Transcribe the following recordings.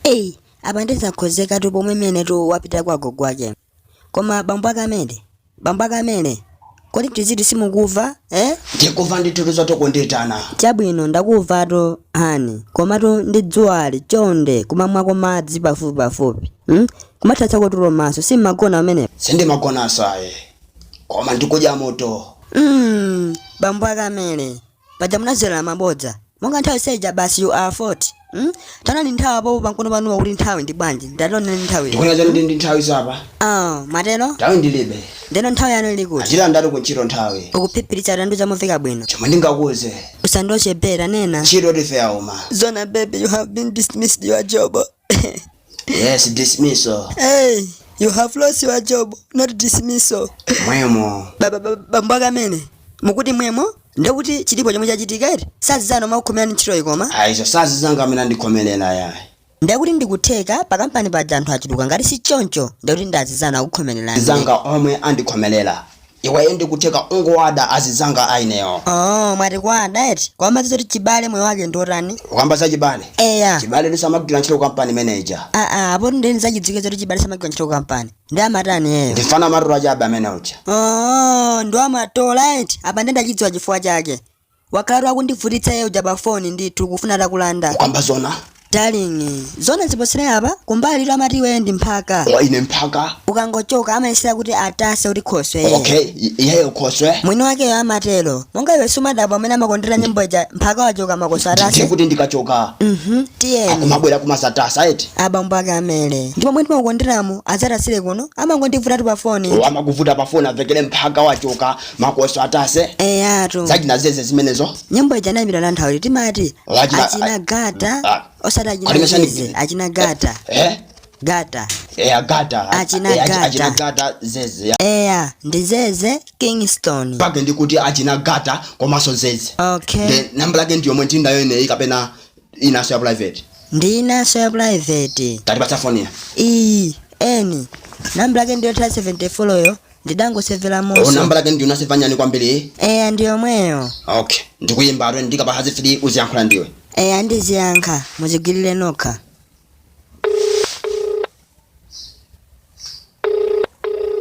eyi apa ndizakhozekatu pomwe menetu wapita kwa gogo ake koma bambo ake amene bambo ake a Mele kodi tiziti simukuva eh? ndikuva ndithu zoti kundiitana chabwino ndakuvatu hani komatu ndi dzuwali chonde kumamwako madzi pafupi pafupi hmm? kumathatsako tulo komanso simagona amene sindimagonanso ayi koma ndikudya moto mm, bambo ake a Mele paja munadzera mabodza monga nthawi zija basi you are fort mm? tanani nthawi apopo pankono panuwa kuti nthawi ndi bwanji ndatonani nthawi ndikona chanu ndi ndi nthawi zapa ah matero nthawi ndilibe ndiyeno nthawi yanu ili kuti achita ndati kuntchito nthawi ukuphiphiritsa tandiuza chamumveka bwino chomwe ndingakuuze usandochepera nena ntchito life yauma zona baby you have been dismissed your job yes dismiso hey you have lost your job not dismissal mwemo bambo ake a Mele mukuti mwemo ndekuti chilipo chomwe chachitika eti si anzanu omwe akukhomerani ntchitoyi koma ayi izo si azinzanga amene andikhomerera yayi ndekuti ndikutheka pakampani paja anthu achuluka ngati si choncho ndekuti ndi azinzanu akukhomererani zanga omwe andikhomerera iweyo ndikutheka ungowada azinzanga a ineyo oh mwati kuwada eti kwambiri zoti chibale moyo wake ndi wotani ukamba za chibale eya chibale nzosamagwira ntchito kampani manager aa apo ndeni zachidziwike zoti chibale samagwira ntchito kampani ndi amatani iyeyo ndi mfana amatola chabe amene uja oh, ndiye amatola eti apa ndendachidziwa chifukwa chake wakhalatu akundivutitsa iye uja pa foni ndithu kufuna atakulanda ukamba zona darling zona ziposere apa kumbali uku amati iweyo ndi mphaka ine mphaka ukangochoka amayesera kuti atase kuti khoswe iye okay I- iyeyo khoswe mwini wakeyo amatero monga iwe sumadabwa amene amakondera nyimbo ija mphaka wachoka makoswe ndiye atase kuti ndikachoka mhm tiyeni akumabwera kumadzatasa eti abambo ake a Mele ndipo mmene mumakonderamu adzatasire kuno amangondivutatu pa foni amakuvuta pafoni avekere mphaka wachoka makoswe atase eyatu za achina Zeze zimenezo nyimbo ija anayimbira na nthawi timati Achina- achina gata Ah. osati achina Alimesha ni- zeze achina gata eh gata eya gata Achina Eh, achi- Gata. achina gata zeze ya. eya ndi zeze kingston pake ndikuti achina gata komanso zeze okay Then namba lake ndi yomwe ndili nayo ineyi kapena inanso ya private ndi inanso ya private tatipatsa foni ya iyi eni namba lake ndiyo 74 yo ndidangosevera mommo namba lake ndi unasevanyani kwambiri eya ndi yomweyo okay ndikuyimba atwe ndikapatsa zifiri uziyankhula ndiwe eya ndiziyankha mudzigwirire nokha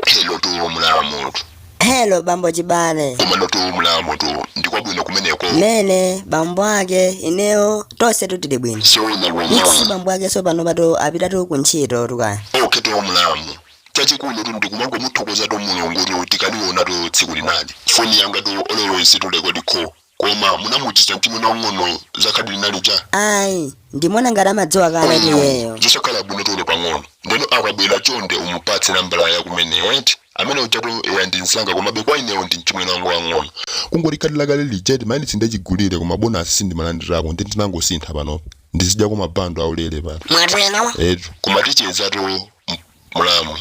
hello tu mlamu tu helo bambo Chibale komano tu mlamu tu ndikwabwino kumeneko mene bambo ake ineyo tonse tutili bwino sowina mixi kwamwa bambo ake sopano panotu apitatu ku ntchito tukaya okay tu mlamu chachikulu tu ndikumangomuthokoza tu Mulungu tu tikaliwona tu tsiku linali foni yanga tu always tulekodi kho Koma munamudziwitsa mchimwene wang'onoyo za khadi lina lija? Ayi, ndimaona ngati amadziwa kale iyeyo. zosakhala bwino chonde pang'ono. Ndeno akabwera chonde umupatse nambala ya kumeneyo eti? Amene ujatu eya ndi mzanga komabe kwa ineyo ndi mchimwene wanga wang'ono. Kungoti khadi lakale lija eti mayunitsi ndachigulire koma bonasi sindimalandirako nde ndinangosintha panopa. Ndizidyako mabando aulere pano. Mwatero? Etu, koma tichezatu mlamu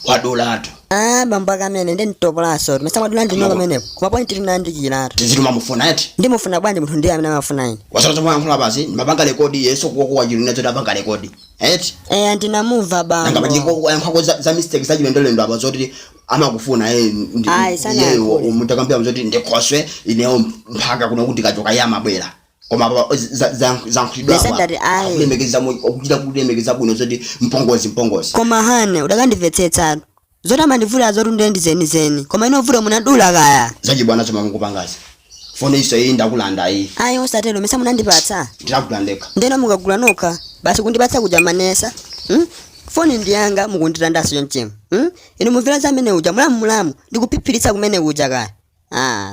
wadulatu Ah, bambo akamene ndi mtopolaso. Mesa mwadula ndinu pamenepo. Koma ponyani tiyandikiretu. tidziwetu mumamufuna eti Ndimufuna bwanji munthu ndiye amene amafuna ine. wasala akamayankhula basi ndimapanga rekodi yeso kuwakuwa chilina choti apanga rekodi eti Eh, ndinamumva bambo. ngakhale ndikuyankhako za mistake zachilendolendo apa zoti amakufuna Ayi, sanayankhule. mutakambira zoti ndikhoswe ineyo mpaka kuno kuti kachoka iye amabwera koma apa za- za- zayankhulidwa apa akulemekeza mu- akuchita kulemekeza bwino zoti mpongozi mpongozi koma hane udakandimvetsetsa zoti amandivula zoti ndende zenizeni koma inu vuto munadula kaya zachibwana zomwe mukupangazi foni iso iyi ndakulanda iyi ayi osatero mesa munandipatsa ndinakulandeka ndeno mukagula nokha basi kundipatsa kuja manesa hmm? foni ndi yanga mukundilandanso chonchemu hmm? inu mumvera zamene uja mulamu mulamu ndikuphiphiritsa kumene uja kaya ah.